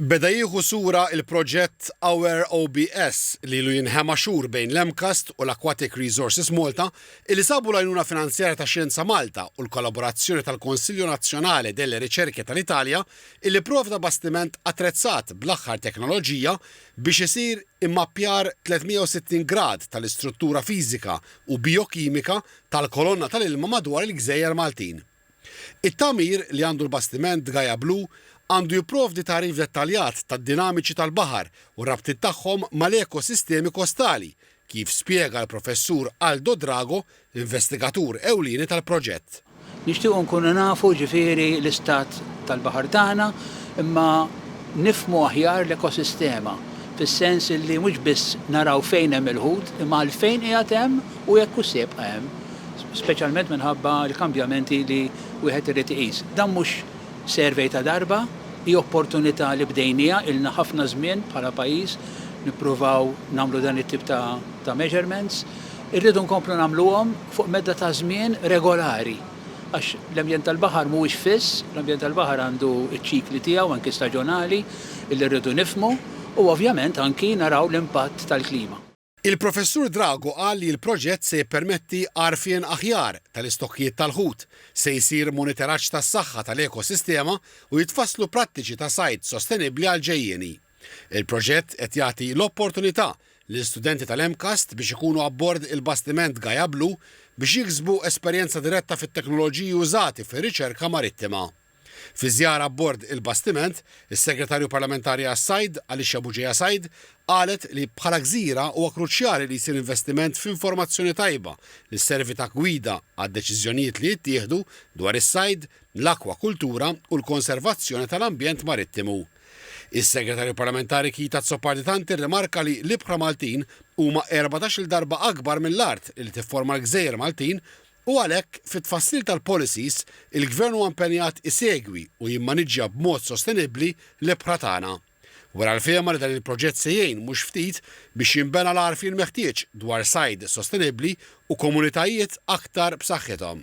Beda jieħu sura l-proġett Aware OBS li ilu jinħema xhur bejn l-MCAST u l-Aquatic Resources Malta illi sabu l-għajnuna finanzjarja ta' Xjenza Malta u l-kollaborazzjoni tal-Consiglio Nazionale delle Ricerche tal-Italja illi pprovda bastiment attrezzat bl-aħħar teknoloġija biex isir immappjar 360 grad tal-istruttura fiżika u bijokimika tal-kolonna tal-ilma madwar il-gżejjer Maltin. It-tagħmir li għandu l-bastiment Gaia Blu għandu jipprovdi tagħrif dettaljat tad-dinamiċi tal-baħar u r-rabtiet tagħhom mal-ekosistemi kostali, kif spjega l-Professur Aldo Drago, l-investigatur ewlieni tal-proġett. Nixtiequ nkunu nafu ġifieri l-istat tal-baħar tagħna imma nifhmu aħjar l-ekosistema, fis-sens li mhux biss naraw fejn hemm il-ħut imma għalfejn qiegħed hemm u jekk hux se jibqa' hemm. speċjalment minħabba l-kambjamenti li wieħed irid iqis. Dan mhux survey ta' darba, hi opportunità li bdejniha, ilna ħafna żmien bħala pajjiż nippruvaw nagħmlu dan it-tip ta' measurements. Irridu nkomplu nagħmluhom fuq medda ta' żmien regolari għax l-ambjent tal-baħar mhuwiex fiss, l-ambjent tal-baħar għandu ċ-ċikli tiegħu anki staġonali illi rridu nifhmu u ovvjament anki naraw l-impatt tal-klima. Il-Professur Drago qal li l-proġett se jippermetti għarfien aħjar tal-istokkijiet tal-ħut, se jsir monitoraġġ tas-saħħa tal-ekosistema u jitfasslu prattiċi ta' sajd sostenibbli għall-ġejjieni. Il-proġett qed jagħti l-opportunità lil studenti tal-MCAST biex ikunu abbord il-bastiment Gaia Blue biex jiksbu esperjenza diretta fit-teknoloġiji użati fir-riċerka marittima. Fi żjara abbord il-bastiment, is-Segretarju Parlamentari għas-Sajd, Alicia Bugeja Said, qalet li bħala gżira huwa kruċjali li jsir investiment f'informazzjoni tajba li sservi ta' gwida għad-deċiżjonijiet li jittieħdu dwar is-sajd, l-akwakultura u l-konservazzjoni tal-ambjent marittimu. Is-Segretarju Parlamentari Keith Azzopardi-Tanti rrimarka li l-ibħra Maltin huma erbatax-il darba akbar mill-art li tifforma l-gżejjer Maltin U għalhekk, fit-tfassil tal-policies, il-Gvern huwa impenjat isegwi u jimmaniġġja b'mod sostenibbli l-ibħra tagħna. Wera l-fehma li dan il-proġett se jgħin mhux ftit biex jinbena l-għarfien meħtieġ dwar sajd sostenibbli u komunitajiet aktar b'saħħithom.